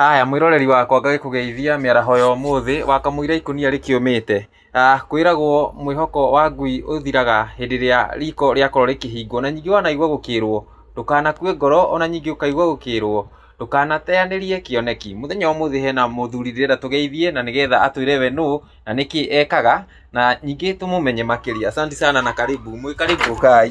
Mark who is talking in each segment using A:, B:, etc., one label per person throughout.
A: Haya mwĩroreri wakwa ngagĩkũgeithia mĩaraho ya ũmũthĩ, wakamũira ikũnia rĩkĩũmĩte. Ah, kwĩragwo mwĩhoko wa ngui ũthiraga hĩndĩ ĩrĩa riko rĩakorwo rĩkĩhingwo, na ningĩ wanaigua gũkĩrwo ndũkanakue ngoro, ona ningĩ ũkaigua gũkĩrwo ndũkanateanĩrie kĩoneki. Mũthenya wa ũmũthĩ hena mũthuri ndĩrenda tũgeithie, na nĩgetha atwĩre we nũ na nĩkĩ ekaga, na ningĩ tũmũmenye makĩria. Asanti sana na karibu, mwĩ karibu, ũkai.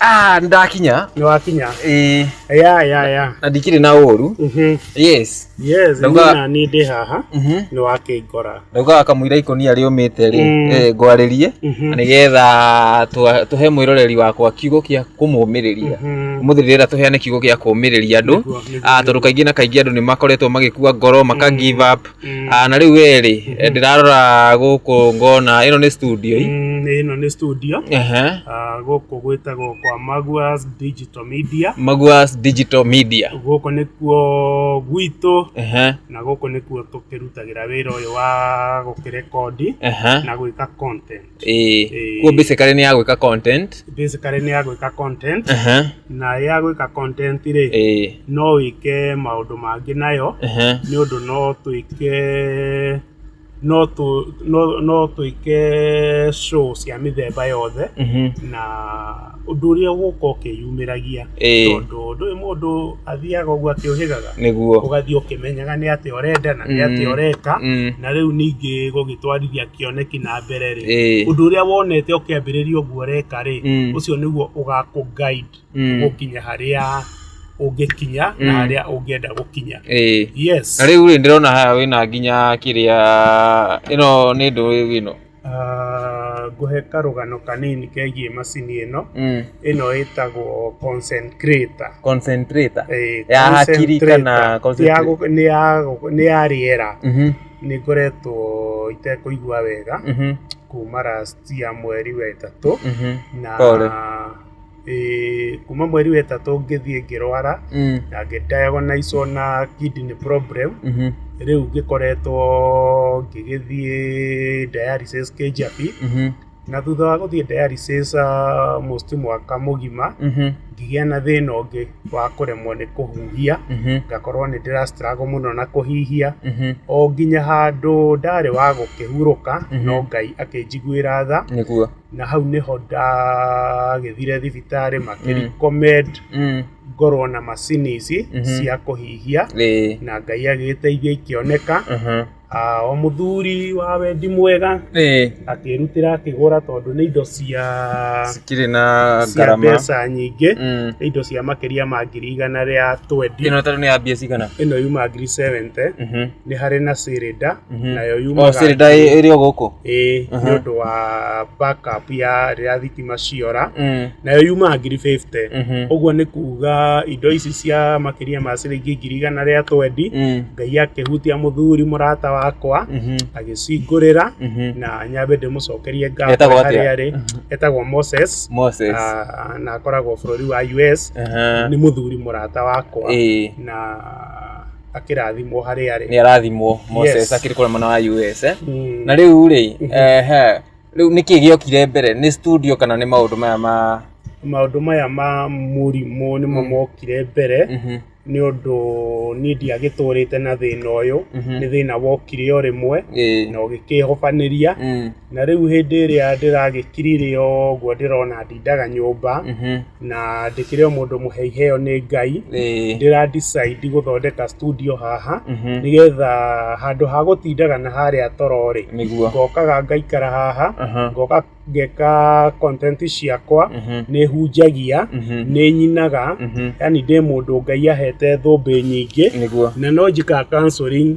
A: Ah, ndakinya. Nĩ wakinya. Eh, Ya ya ya. na ndikire na ũru. Mhm. Yes. Yes, Ndauga- nina ni ndĩ haha. Mhm. Nĩ wakĩngora. Ndaugaga kamũira ikũnia rĩũmĩte rĩ, Mm. eh, ngwarĩrie Mhm. nĩgetha twa- tũhe mwĩroreri wakwa kiugo gĩa kũmũmĩrĩria. Mhm. Ũmũthĩ rĩrĩa tũheane kiugo gĩa kũmĩrĩria andũ. Nĩguo, nĩguo, Ah, tondũ kaingĩ na kaingĩ andũ nĩ makoretwo magĩkua ngoro, maka give up. Mm. Ah, na rä u wä rä ndä rarora gå kå ngona ä no nä studio i Mm, ĩno nĩ studio Ehe. Ah, gũkũ gwĩtagwo kwa Maguas Digital Media maguas digital media gũkũ nĩkuo gwitũ Ehe, na gũkũ nĩkuo tũkĩrutagĩra wĩra ũyũ wa gũkĩrekondi ehe. na gwĩka content ĩĩ Ĩĩ. kuo basically nĩ ya gwĩka content basically nĩ ya gwĩka content Aha, na ya gwĩka content rĩ ĩĩ no wĩke maũndũ mangĩ nayo aha, nĩ ũndũ no twĩke no tũ- no- no twĩke show cia mĩthemba yothe mhm, na ũndũ ũrĩa ũgũka ũkĩyumĩragia Ĩĩ. tondũ ndũĩ mũndũ athiaga ũguo akĩũhĩgaga nĩguo ũgathiĩ ũkĩmenyaga nĩ atĩa ũrenda na nĩ atĩa Mm. ũreka Mm. na rĩu ningĩ gũgĩtwarithia kĩoneki na mbere rĩ Ĩĩ. ũndũ ũrĩa wonete ũkĩambĩrĩria ũguo ũreka rĩ Mm. ũcio nĩguo ũgakũ guide Mm. gũkinya harĩa ũngĩkinya na Mm. harĩa ũngĩenda gũkinya Ĩĩ. yes na rĩu rĩ ndĩrona haha wĩna nginya kĩrĩa ĩno nĩ ndũĩ ĩno Ah, ngũhe karũgano kanini kegiĩ macini ĩno Mm. ĩno ĩtagwo concentrator Concentrator. Eh, Ya hakiri concentrator. kana Ya concentrator? gũ- nĩ ya gũ- nĩ ya rĩera Mhm, nĩ ngoretwo itekũigua wega mhm, kuma last ya mweri wa ĩtatũ mhm. na Pole. Eh, kuma mweri wetatũ ngĩthiĩ ngĩrwara Mm. na ngĩdiagonizwo na kidney problem Mhm. rĩu ngĩkoretwo ngĩgĩthiĩ dialysis kĩnjabi Mhm. na thutha wa gũthiĩ dialysis uh, most mwaka mũgima Mhm. ngĩgĩa na thĩna ũngĩ wa kũremwo nĩ kũhuhia Mhm. ngakorwo nĩ ndĩra struggle mũno na kũhihia Mhm. o nginya handũ ndarĩ wa gũkĩhurũka Mhm. no ngai akĩnjiguĩra tha nĩguo na hau nĩho ndagĩthire thibitarĩ makĩrecommend Mm. ngorwo na macini ici Mhm. cia kũhihia Ĩĩ. na ngai agĩteithia ikĩoneka Mhm. Ah, o mũthuri wa wendi mwega Ĩĩ. akĩrutĩra akĩgũra tondũ nĩ indo cia Cikirĩ na cia ngarama. mbeca nyingĩ Mm. nĩ indo cia makĩria ma ngiri igana rĩa twendi Ĩno tondũ nĩ ya mbia cigana? ĩno yuma ngiri 70 Mhm. nĩ harĩ na cylinder Mhm. nayo o yumaga cirida ĩrĩ o gũkũ ĩĩ Mhm. nĩ ũndũ wa backup ya rĩrĩa thitima ciora Mm, nayo yumaga ngiri 50 mhm, ũguo nĩ kuga indo ici cia makĩria ma ciringi ngiri igana rĩa twendi mm, ngai akĩhutia mũthuri mũrata wakwa mhm, agĩcingũrĩra mhm. na nyambe ndĩmũcokerie ngatho Etagwo atĩa? harĩa arĩ etagwo moses Moses. ah, na akoragwo bũrũri wa us Aha. nĩ mũthuri mũrata wakwa Ĩĩ. na akĩrathimwo harĩ arĩ nä arathimwo moses Yes. akiri kå mwana wa us eh? Mm. na rä u rä Mhm. rä u nä kä gä okire mbere nä studio kana nä maå ndå maya ma maũndũ maya ma mũrimũ nĩmo Mm. mokire mbere Mhm, nĩ ũndũ niĩ ndiagĩtũrĩte na thĩna ũyũ mhm. nĩ thĩna wokire o rĩmwe Ĩĩ. na ũgĩkĩhobanĩria Mm. na rĩu hĩndĩ ĩrĩa ndĩragĩkirire ũguo ndĩrona ndindaga nyũmba Mhm. na ndĩkĩrĩ o mũndũ mũhe iheo nĩ ngai Ĩĩ. ndĩra decide gũthondeka studio haha Mhm. nĩgetha handũ ha gũtindaga na harĩa tororĩ Nĩguo. ngokaga ngaikara haha Aha. ngoka ngeka content ciakwa Mhm. nĩ hunjagia Mhm. nĩ nyinaga Mhm. yani ndĩ mũndũ ngai ahete thũmbĩ nyingĩ Nĩguo. na no njĩkaga counseling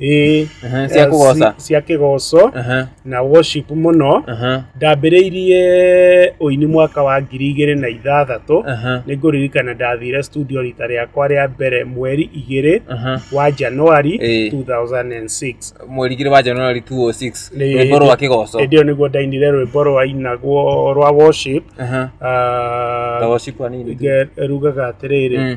A: ĩĩ Aha, cia kũgoca ci- cia kĩgoco Aha, na worship mũno aha, ndambĩrĩirie ũini mwaka wa ngiri igĩrĩ na ithathatũ aha, nĩ ngũririkana ndathire studio rita rĩakwa rĩa mbere mweri igĩrĩ aha. wa januari Ĩĩ. 2006 mweri igĩrĩ wa januari 206 Nĩ- rwĩmbo rwa kĩgoco hĩndĩ ĩyo nĩguo ndainire rwĩmbo rwainagwo rwa worship Aha, Ah, ta worship wa nini tu. nge- rugaga atĩrĩrĩ Mm.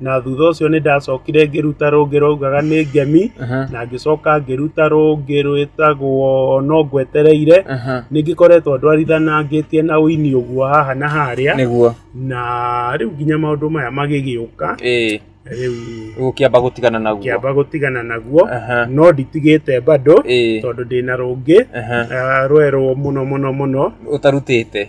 A: na thutha ũcio nĩ ndacokire ngĩruta rũngĩ rwaugaga nĩ ngemi Aha. na ngĩcoka ngĩruta rũngĩ rwĩtagwo no ngwetereire Aha. nĩ ngĩkoretwo ndwarithanangĩtie na ũini ũguo haha na harĩa nĩguo na rĩu nginya maũndũ maya magĩgĩũka ĩĩ rĩu ũgũkĩamba gũtigana naguo kĩamba gũtigana naguo Aha. no nditigĩte bado ĩĩ tondũ ndĩna rũngĩ Aha. ah, rwerũ mũno mũno mũno ũtarutĩte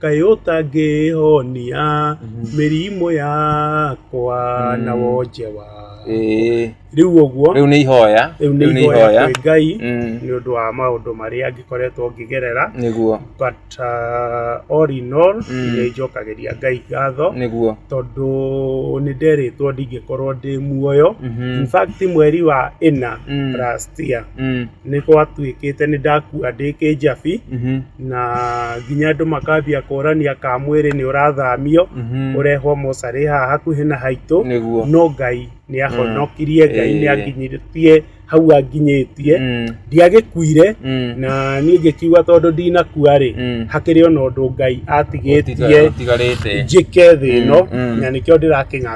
A: kaĩ ũtangĩhonia mĩrimũ yakwa na wonje wa Ĩĩ. rĩu ũguo Rĩu nĩ ihoya. rĩu nĩ ihoya kwĩ ngai Mm. nĩ ũndũ wa maũndũ marĩa ngĩkoretwo ngĩgerera Nĩguo. but uh, all in all Mm. nĩ njokagĩria ngai ngatho Nĩguo. tondũ nĩ nderĩtwo ndingĩkorwo ndĩ muoyo Mhm. in fact mweri wa ĩna Mm. last year Mm. nĩ gwatuĩkĩte nĩ ndakua ndĩ kĩnjabi na nginya andũ makambia kũrania ka mwĩrĩ nĩ ũrathamio ũrehwo mocarĩ haha hakuhĩ na haitũ Nĩguo. no ngai nĩ ahonokirie ngai nĩ Eh. anginyĩtie hau anginyĩtie Mm. ndiagĩkuire Mm. na niĩ ngĩkiuga tondũ ndinakua rĩ Mm. hakĩrĩ ona ũndũ ngai atigĩtie Ũtigarĩte. njĩke thĩ ĩno Mm, mm. na nĩkĩo ndĩrakinya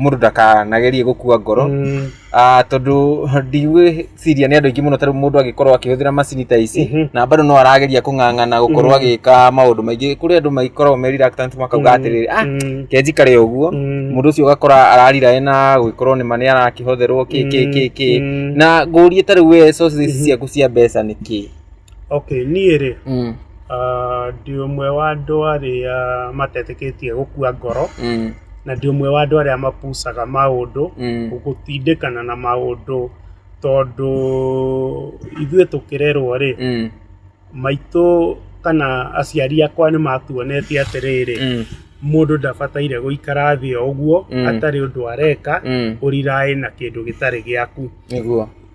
A: mũndũ ndakanagerie gũkua ngoro Mm. Ah, tondũ ndigwĩciria nĩ andũ aingĩ mũno tarĩu mũndũ agĩkorwo akĩhũthĩra macini ta ici Mhm. na bado no arageria kũng'ang'ana gũkorwo Mhm. agĩka maũndũ maingĩ kũrĩ andũ magĩkoragwo me reluctant makauga Mm. atĩrĩrĩ ah Mm. kenji karĩ ũguo Mm. mũndũ ũcio ũgakora ararira ena gwĩkorwo nĩ ma nĩ arakĩhotherwo kĩ kĩ kĩ kĩ Mm. na ngũrie tarĩu we sources ici ciaku cia mbeca nĩ kĩ Okay, niĩ rĩ, mm. uh, ndĩ ũmwe wa andũ arĩa matetĩkĩtie gũkua ngoro mm. na ndĩ ũmwe wa andũ arĩa mapucaga maũndũ mm. gũtindĩkana na maũndũ tondũ ithuĩ tũkĩrerwo rĩ mm. maitũ kana aciari akwa nĩ matuonetie atĩrĩrĩ mm mũndũ ndabataire gũikara thĩ o ũguo mm. atarĩ ũndũ areka mm. ũriraĩ na kĩndũ gĩtarĩ gĩaku nĩguo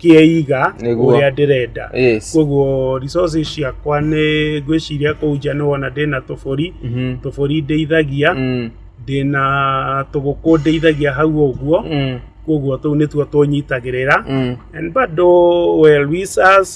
A: kĩeiga Nĩguo. ũrĩa ndĩrenda yes koguo resources ciakwa nĩ ngwĩciria kũu nja nĩ wona ndĩna tũbũri Mhm. tũbũri ndeithagia Mm, ndĩna tũgũkũ ndeithagia hau ũguo mm, koguo tũu nĩtuo tũnyitagĩrĩra mm. and bado well we us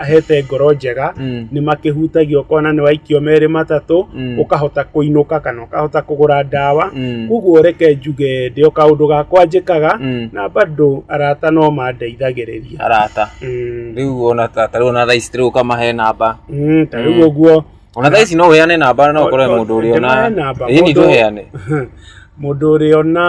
A: ahete ngoro njega Mm. nĩ makĩhutagia ũkona nĩ waikio merĩ matatũ Mm. ũkahota kũinũka kana ũkahota kũgũra ndawa Mm. koguo reke njuge ndĩo kaũndũ gakwa njĩkaga Mm. na bado arata no mandeithagĩrĩria arata Mm, rĩu ona ta ta rĩu ona thaa ici rĩu ũkamahe namba mm, ta rĩu ũguo ona thaa ici no ũheane namba no ũkorwo he mũndũ ũrĩa ona Ndĩmahe namba, ĩĩ nĩ mũndũ- tũheane mũndũ ũrĩa ona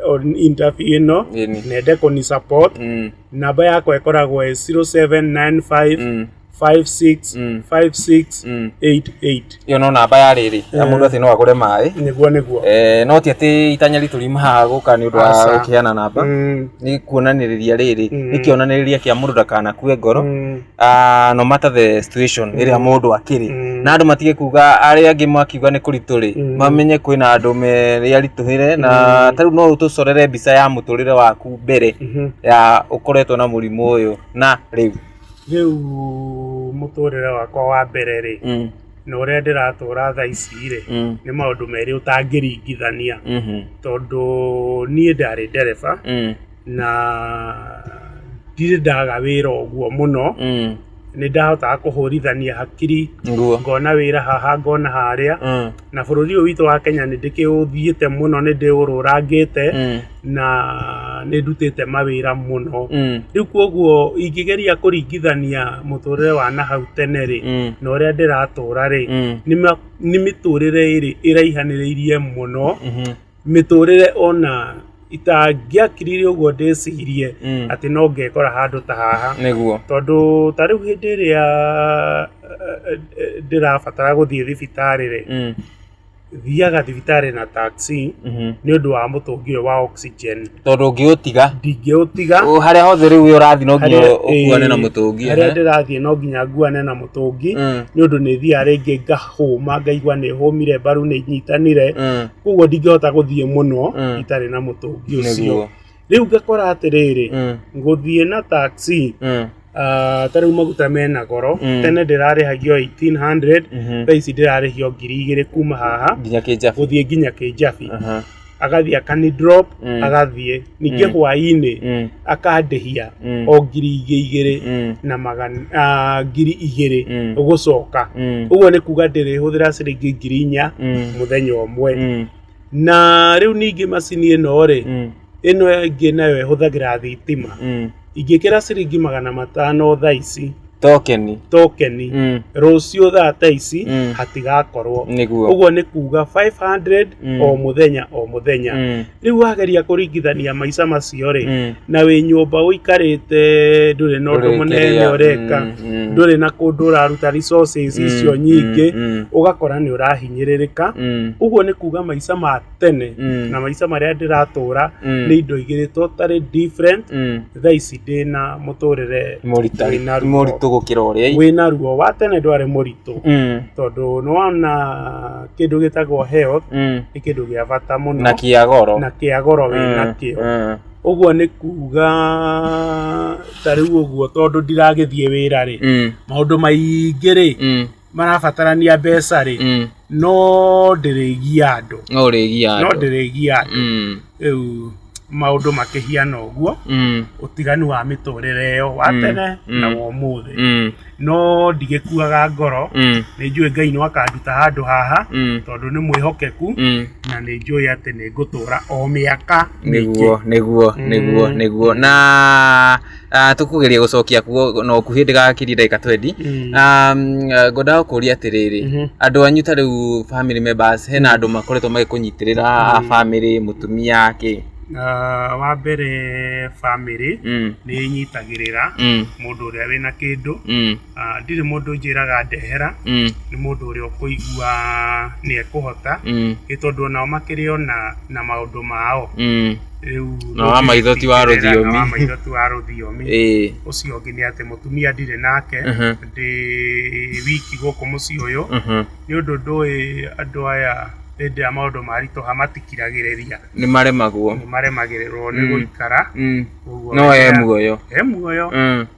A: on interview ĩno Ĩĩ nĩ. nende kũni support Mm. namba yakwa ĩkoragwo ĩ 0795 Mm. 56 Mm. 56 Mm. 88 ĩyo no namba ya rĩrĩ ya mũndũ atĩ no agũre maĩ nĩguo nĩguo Eh, no ti atĩ itanya ritũ rimahaga gũka nĩ ũndũ wa Aca. gũkĩheana namba Mm, nĩ kuonanĩrĩria rĩrĩ Mm. nĩ kĩonanĩrĩria kĩa mũndũ ndakanakue ngoro mm. ah, no matter the situation ĩrĩa Mm. mũndũ akĩrĩ Mm. na andå matige kuga arä angä makiuga nä kå ritå rä Mm. mamenye kwä na andå merä aritå hä re na Mm. tarä u no å tå corere mbica ya må tå rä re waku mbere Mhm. ya å koretwo na må rimå å yå na rä u rĩu mũtũrĩre wakwa wa mbere rĩ Mm, na ũrĩa ndĩratũra tha ici rĩ mm, nĩ maũndũ merĩ ũtangĩringithania mhm, tondũ niĩ ndarĩ ndereba mm, na ndirĩ ndaga wĩra ũguo mũno Mm. nĩ ndahotaga kũhũrithania hakiri Nguo. ngona wĩra haha ngona harĩa Mm. na bũrũri ũyũ witũ wa kenya nĩ ndĩkĩũthiĩte mũno nĩ ndĩũrũrangĩte Mm. na nĩ ndutĩte mawĩra mũno Mm. rĩu kwoguo ingĩgeria kũringithania mũtũrĩre wa na hau tene rĩ Mm. na ũrĩa ndĩratũra rĩ Mm. nĩ ma- nĩ mĩtũrĩre ĩrĩ ĩraihanĩrĩirie mũno Mhm. mĩtũrĩre ona itangĩakirire ũguo ndĩcirie Mm. atĩ no ngekora handũ ta haha nĩguo tondũ ta rĩu hĩndĩ ĩrĩa eh, eh, ndĩrabatara gũthiĩ thibitarĩ rĩ Mm, thiaga thibitarĩ na taxi mhm. nĩ ũndũ wa mũtũngi ũyũ wa oxygen tondå å ngä å tiga ndingä å tiga harä a hothe rä u å rathiä no nginya Harĩa- å kuane na ĩĩ, må tå ngi harĩa ndĩrathiĩ no nginya nguane na mũtũngi nĩ ũndå nĩ thiaga rĩngĩ ngahũma ngaigua nĩ hũmire mbaru nĩ nyitanire koguo ndingĩhota gũthiĩ mũno Mm. itarĩ na mũtũngi ũcio nĩguo rĩu ngakora atĩrĩrĩ ngũthiĩ na taxi Ah, ta rĩu maguta mena goro Mm. tene ndĩrarĩhagio 1800 Mhm. thaa ici ndĩrarĩhio ngiri igĩrĩ kuma haha nginya kĩnjabu gũthiĩ nginya kĩnjabi Aha. agathiĩ akani drop Mm. agathiĩ ningĩ Mm. hwaĩ-inĩ Mm, akandĩhia mm, o ngiri ingĩ igĩrĩ mm, na magana ah, ngiri igĩrĩ Mm. gũcoka mm, ũguo nĩ kuga ndĩrĩhũthĩra ciringi ngiri inya mm, mũthenya ũmwe mm, na rĩu ningĩ macini ĩno rĩ mm. ĩno ĩngĩ nayo ĩhũthagĩra thitima mm. ingĩkĩra ciringi magana matano thaa ici tokeni tokeni mm. rũciũ thaa ta ici mm. hatigakorwo nĩguo ũguo nĩ kuga 500 mm. o mũthenya o mũthenya mm. rĩu wageria kũringithania maica macio rĩ mm. na wĩ nyũmba ũikarĩte ndũrĩ na ũndũ mũnene ũreka mm. mm. ndũrĩ na kũndũ ũraruta resources mm. icio nyingĩ mm. mm. ũgakora nĩ ũrahinyĩrĩrĩka mm. ũguo nĩ kuga maica ma tene Mm. na maica marĩa ndĩratũra Mm. nĩ indo igĩrĩ totally different Mm. thaa ici ndĩ na mũtũrĩre Moritari- Wĩna ruo. moritũ gũkĩra ũrĩa wĩna ruo wa tene ndwarĩ mũritũ Mm. tondũ nĩwona kĩndũ gĩtagwo health Mm. nĩ kĩndũ gĩa bata mũno na kĩa goro na kĩa goro Mm. wĩna kĩo Mm. ũguo nĩ kuga ta rĩu ũguo tondũ ndiragĩthiĩ wĩra rĩ Mm. maũndũ maingĩ rĩ Mm. marabatarania mbeca rĩ Mm. no ndĩrĩgia andũ no rĩgia no andũ ndĩrĩgia andũ Mm. rĩu maũndũ makĩhiana ũguo Mm. ũtiganu wa mĩtũrĩre ĩyo wa Mm. tene Mm. na wa ũmũthĩ Mm. no ndigĩkuaga ngoro Mm. nĩ njũĩ ngai no akanduta handũ haha Mm. tondũ nĩ mwĩhokeku Mm. na nĩ njũĩ atĩ nĩ ngũtũra o mĩaka mĩingĩ nĩguo nĩguo nĩguo Mm. nĩguo na Ah, tũkũgeria gũcokia kuo no kuhĩ ndĩgakirie ndagĩka twendi Mm. Ah, mm, ah, ngwendaga kũria atĩrĩrĩ Mhm. andũ anyu ta rĩu family members hena andũ makoretwo magĩkũnyitĩrĩra a family mũtumia kĩ Ah, wa mbere bamĩrĩ Mm, nĩ ĩnyitagĩrĩra mm, mũndũ ũrĩa wĩna kĩndũ mm. Ah, ndirĩ mũndũ njĩraga ndehera Mm, nĩ mũndũ ũrĩa ũkũigua nĩ ekũhota mm, nĩ tondũ onao makĩrĩ ona na maũndũ mao mm. rĩu Na wa maitho ti wa ndũngĩtindĩrĩra, rũthiomi. na wa maitho ti wa rũthiomi Ĩĩ. ũcio ũngĩ nĩ atĩ mũtumia ndirĩ nake Mhm. ndĩ wiki gũkũ mũciĩ ũyũ Mhm. nĩ ũndũ ndũĩ andũ aya hĩndĩ ya maũndũ maritũha matikiragĩrĩria nĩ maremagwo nĩ maremagĩrĩrwo nĩ Mm. gũikara Mm. ũguo no e wega. muoyo e muoyo Mm.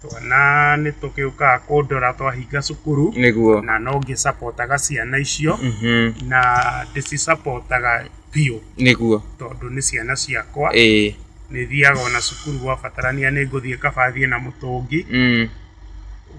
A: Twana nĩ tũgĩũkaga kũndora twahinga cukuru nĩguo na no ngĩcapotaga ciana icio Mhm. na ndĩcicapotaga biũ nĩguo tondũ nĩ ciana ciakwa ĩĩ nĩ thiaga ona cukuru gwabatarania nĩ ngũthiĩ kabathiĩ na mũtũngi Mm.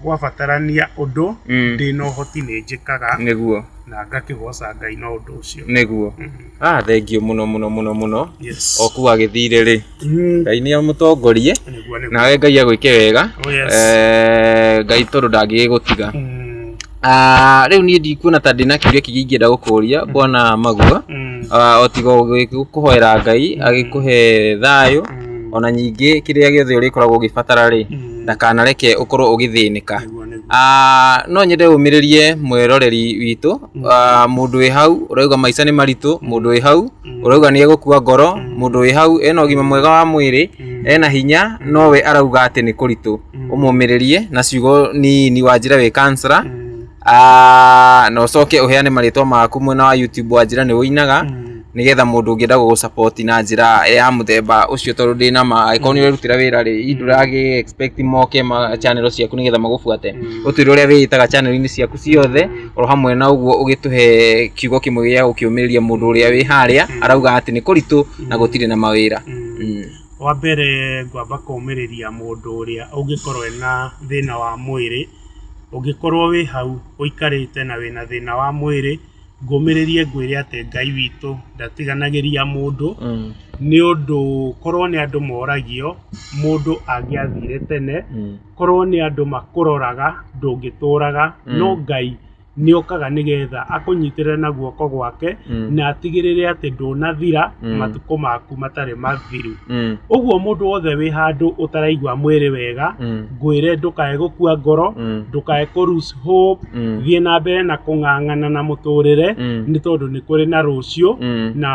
A: gwabatarania ũndũ Mm. ndĩ na ũhoti nĩ njĩkaga nĩguo na ngakĩgoca ngai na ũndũ ũcio nĩguo Mhm. Ah, thengiũ mũno mũno mũno mũno Yes. oku agĩthire rĩ Mhm. ngai nĩ amũtongorie Nĩguo, nĩguo. nawe ngai agwĩke wega Oh, yes. Eh, ngai tondũ ndangĩgĩgũtiga Mm, Ah, rĩu niĩ ndikuona ta ndĩna kiuria kĩngĩ ingĩenda gũkũria bwana magua mm, Ah, o tiga gũkũhoera ngai agĩkũhe thayũ mm, ona nyingĩ kĩrĩa gĩothe ũrĩkoragwo ũgĩbatara rĩ mm. ndakanareke ũkorwo ũgĩthĩnĩka Ah, no nyende ũmĩrĩrie mwĩroreri witũ Ah, mũndũ wĩ hau ũrauga maica nĩ maritũ mũndũ wĩ hau ũrauga nĩ egũkua ngoro mũndũ wĩ hau ena ũgima mwega wa mwĩrĩ ena hinya nowe arauga atĩ nĩ kũritũ ũmũmĩrĩrie na ciugo nini wa njĩra wĩ kansara na ũcoke ũheane marĩtwa maku mwena wa youtube wa njĩra nĩ ũinaga nigetha mundu ungienda gugu support na njira ya muthemba ucio tondu ndi na ma angĩkorwo nĩ ũrerutĩra wĩra rĩ i ndũragĩ expect moke ma channel ciaku nigetha magubuate ũtwĩre ũrĩa wĩĩtaga channel-inĩ ciaku ciothe oro hamwe na ũguo ũgĩtũhe kiugo kĩmwe gĩa gũkĩũmĩrĩria mũndũ ũrĩa wĩ harĩa arauga atĩ nĩ kũritũ na gũtirĩ na mawĩra Mm. wa mbere ngwamba kũmĩrĩria mũndũ ũrĩa ũngĩkorwo ena thĩna wa mwĩrĩ ũngĩkorwo wĩ hau ũikarĩte na wĩna thĩna wa mwĩrĩ Ngũmĩrĩrie ngwĩre atĩ Ngai witũ ndatiganagĩria mũndũ, nĩ ũndũ korwo nĩ andũ moragio mũndũ angĩathire tene, korwo nĩ andũ makũroraga ndũngĩtũraga, no Ngai nĩ okaga nĩgetha akũnyitĩrĩre na guoko gwake na atigĩrĩre atĩ ndũnathira matukũ maku matarĩ mathiru. Ũguo mũndũ wothe wĩ handũ ũtaraigua mwĩrĩ wega, ngwĩre ndũkae gũkua ngoro, ndũkae kũ lose faith. hope Mm. thiĩ na mbere na kũng'ang'ana na mũtũrĩre Mm. nĩ tondũ nĩ kũrĩ na rũciũ Mm. na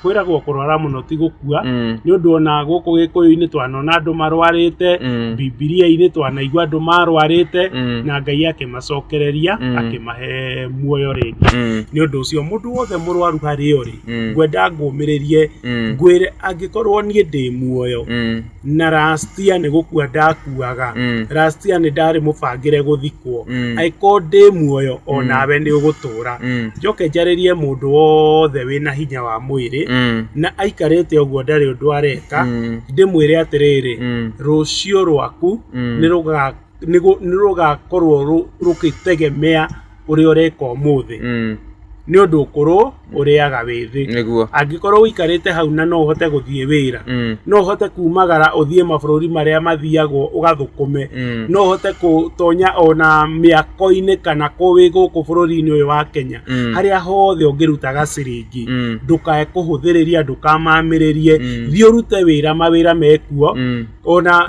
A: kwĩragwo kũrwara mũno ti gũkua Mm. nĩ ũndũ ona gũkũ gĩkũyũ-inĩ twanona andũ marwarĩte Mm. bibilia-inĩ twanaigua andũ marwarĩte Mm. na ngai akĩmacokereria Mm. akĩmahe muoyo rĩngĩ Mm. nĩ ũndũ ũcio mũndũ wothe mũrwaru harĩ ũrĩ Mm. ngwenda ngũmĩrĩrie Mm. ngwĩre angĩkorwo niĩ ndĩ muoyo Mm. na last year nĩ gũkua ndakuaga Mm. last year nĩ ndarĩ mũbangĩre gũthikwo Mm. angĩkorwo ndĩ muoyo o nawe nĩ ũgũtũũra Mm. njoke njarĩrie mũndũ wothe wĩna hinya wa mwĩrĩ Mm. na aikarĩte ũguo ndarĩ ũndũ areka Mm. ndĩmwĩre atĩrĩrĩ Mm. rũciũ rwaku Mm. nĩ rũga nĩ rũgakorwo rũgĩtegemea ũrĩa ũreka ũmũthĩ Mm. nĩ ũndũ ũkũrũ ũrĩaga wĩ thĩ Nĩguo. angĩkorwo ũikarĩte hau na no ũhote gũthiĩ wĩra Mm. no ũhote kumagara ũthiĩ mabũrũri marĩa mathiagwo ũgathũkũme Mm. no ũhote gũtonya ona mĩako-inĩ kana kũ wĩ gũkũ bũrũri-inĩ ũyũ wa kenya Mm. harĩa hothe ũngĩrutaga ciringi Mm. ndũkae kũhũthĩrĩria ndũkamamĩrĩrie Mm. thiĩ ũrute wĩra mawĩra mekuo Mm. ona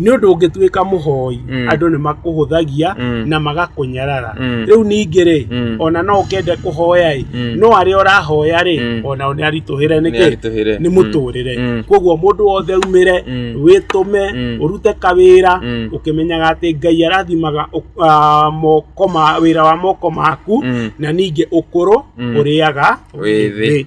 A: nĩ ũndũ ũngĩtuĩka mũhoi Mm. andũ nĩ makũhũthagia Mm. na magakũnyarara Mm. rĩu ningĩ rĩ Mm. ona no ũkende kũhoya ĩ Mm. no arĩa ũrahoya rĩ Mm. ona nĩ aritũhĩre nĩkĩ Nĩaritũhĩre. nĩ Mm. mũtũrĩre Mm. koguo mũndũ wothe umĩre Mm. wĩtũme Mm. ũrute kawĩra Mm. ũkĩmenyaga atĩ ngai arathimaga ũ- ah, moko ma wĩra wa moko maku Mm. na ningĩ ũkũrũ Mm. ũrĩaga Wĩ thĩ.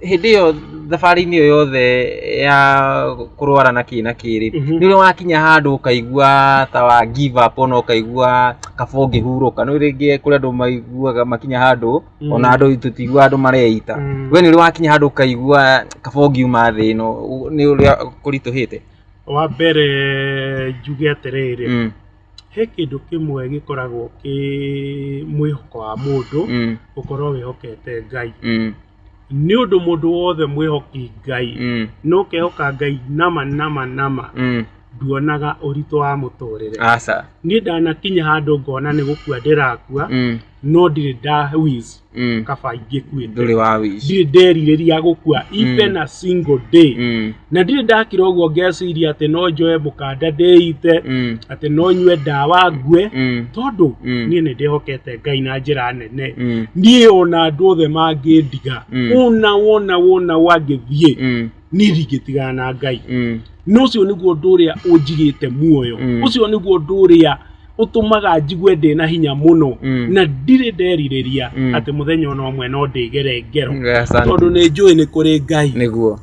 A: hĩndĩ ĩyo thabarĩ-inĩ ĩyo yothe ya kũrwara na kĩ na kĩrĩ Mhm. nĩ ũrĩ wakinya handũ ũkaigua ta wa give up ona ũkaigua kaba ũngĩhurũka nĩ rĩngĩ kũrĩ andũ maiguaga makinya handũ Mm. ona andũ tũtigua andũ mareita Mm. we nĩ ũrĩ wakinya handũ ũkaigua kaba ũngiuma thĩ ĩno ũ- nĩ ũrĩa kũritũhĩte wa mbere njuge atĩrĩrĩ Mm, he kĩndũ kĩmwe gĩkoragwo kĩ mwĩhoko wa mũndũ mm, gũkorwo wĩhokete ngai mm, nĩ ũndũ mũndũ wothe mwĩhoki ngai Mm. no kehoka ngai nama nama nama Mm. nduonaga ũritũ wa mũtũrĩre Aca. niĩ ndanakinya handũ ngona nĩ gũkua ndĩrakua Mm. no ndirĩ ndawiz Mm. kaba ingĩkuĩte Ndũrĩ wa wish. ndirĩ nderirĩria gũkua even a single day Mm. na ndirĩ ndakira ũguo ngeciria atĩ no njoe mũkanda ndĩite Mm. atĩ no nyue ndawa ngue Mm. tondũ Mm. niĩ nĩ ndĩhokete ngai na njĩra nene Mm. niĩ ona andũ othe mangĩndiga Mm. ona wona wona wangĩthiĩ Mm. niĩ ndingĩtigana na ngai Mm. na ũcio nĩguo ũndũ ũrĩa ũnjigĩte muoyo Mm. ũcio nĩguo ũndũ ũrĩa ũtũmaga njigue ndĩ na hinya mũno Mm. na ndirĩ nderirĩria Mm. atĩ mũthenya ona ũmwe no ndĩgere ngero Asante. tondũ nĩ njũĩ nĩ kũrĩ ngai nĩguo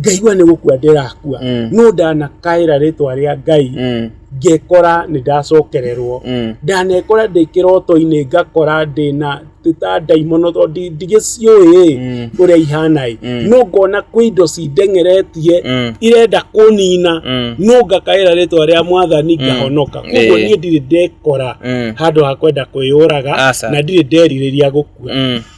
A: ngaigua nĩ gũkua ndĩrakua mm. no ndanakaĩra rĩtwa rĩa ngai mm. ngekora nĩ ndacokererwo mm. ndanekora ndĩ kĩroto-inĩ ngakora ndĩna ta ndaimono to ndigĩciũĩ mm. ũrĩa ihana ĩ mm. no ngona kwĩ indo cindengeretie mm. irenda kũnina no ngakaĩra rĩtwa rĩa mwathani ngahonoka koguo niĩ ndirĩ ndekora handũ ha kwenda kwĩyũraga na ndirĩ nderirĩria gũkua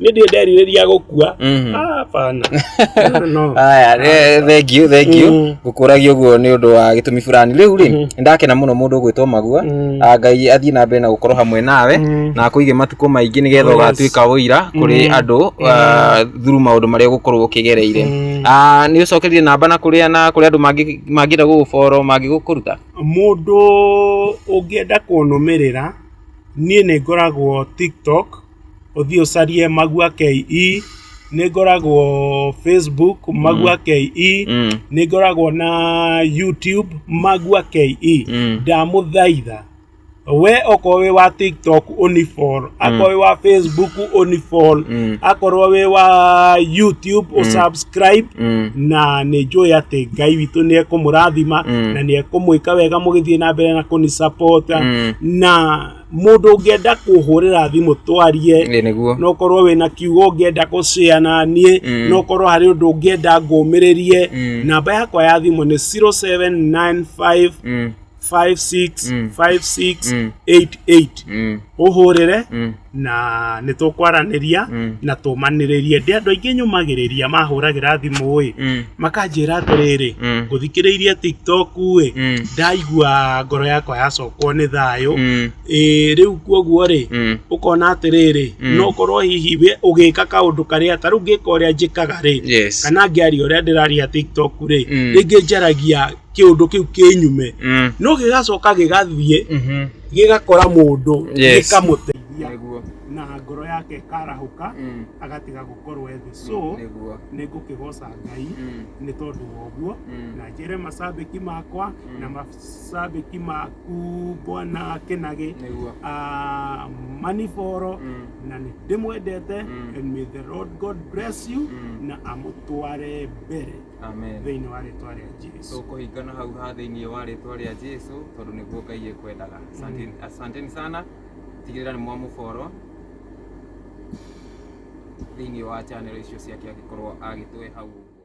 A: nä ndä nderirä ria gå kua Mhm. hapana No, no. aya eh, thengiũ thengiũ Mm. ngũkũragia ũguo nĩ ũndũ wa gĩtũmi fulani rĩu rĩ Mhm. nĩndakena mũno mũndũ ũgwĩtwo magua Mm. Ah, ngai athiĩ na mbere na gũkorwo hamwe nawe Mm. na akũige matukũ maingĩ nĩgetha Yes. ũgatuĩka ũira kũrĩ Mm. andũ ah, through maũndũ marĩa ũgũkorwo ũkĩgereire Mm. Ah, nĩ ũcokerie namba na kũrĩa na kũrĩa andũ mangĩ- mangĩenda gũgũboro mangĩgũkũruta mũndũ ũngĩenda kũnũmĩrĩra niĩ nĩ ngoragwo tiktok ũthiĩ ũcarie magua ke nĩ ngoragwo facebook magua ke Mm. nĩ ngoragwo na youtube magua ke Mm. ndamũthaitha we okorwo wĩ wa tiktok unifol akorwo wĩ wa facebook unifol Mm. akorwo wĩ wa youtube usubscribe Mm. na nĩ njũĩ atĩ ngai witũ nĩ ekũmũrathima Mm. na nĩ ekũmwĩka wega mũgĩthiĩ na mbere na kũnisapota Mm. na Mũndũ ũngĩenda kũhũrĩra thimũ twarie, no ũkorwo wĩna kiugo ũngĩenda gũcea na niĩ, mm. no ũkorwo harĩ ũndũ ũngĩenda ngũmĩrĩrie. Mm. Namba yakwa ya thimũ nĩ 0795565688. Ũhũrĩre na nĩ tũkwaranĩria na tũmanĩrĩrie. Ndĩ andũ aingĩ nyũmagĩrĩria mahũragĩra thimũ-ĩ makanjĩra atĩrĩrĩ Mm. ngũthikĩrĩirie tiktok ĩ Mm. ndaigua ngoro yakwa yacokwo nĩ thayũ Mm. ĩ rĩu kuoguo rĩ Mm. ũkona atĩrĩrĩ Mm. no korwo hihi we ũgĩka kaũndũ karĩa ta rĩu ngĩka ũrĩa njĩkaga rĩ Yes. kana ngĩaria ũrĩa ndĩraria tiktok rĩ Mm. rĩngĩ njaragia kĩũndũ kĩu kĩnyume Mm. no gĩgacoka gĩgathiĩ Mhm. gĩgakora mũndũ Yes. gĩkamũteithia Nĩguo. na ngoro yake ĩkarahũka Mm. agatiga gũkorwo ethĩ so Nĩguo. nä ngå kä goca ngai nä tondå wa å guo Mm. na njä re macambäki makwa Mm. na macambäki maku bwana kenage Nĩguo. Ah, maniboro Mm. na nä ndä mwendete Mm. and may the lord god bless you Mm. na amå tware mbere Amen. thä inä wa rä twa rä a jesu tũkũhingana hau ha thĩinĩ wa rĩtwa rĩa jesu tondũ nĩguo ngai ĩkwendaga Asante- asanteni sana tigĩrĩra nĩ mwamũboro thĩinĩ wa channel icio ciake angĩkorwo agĩtũhe hau ũguo.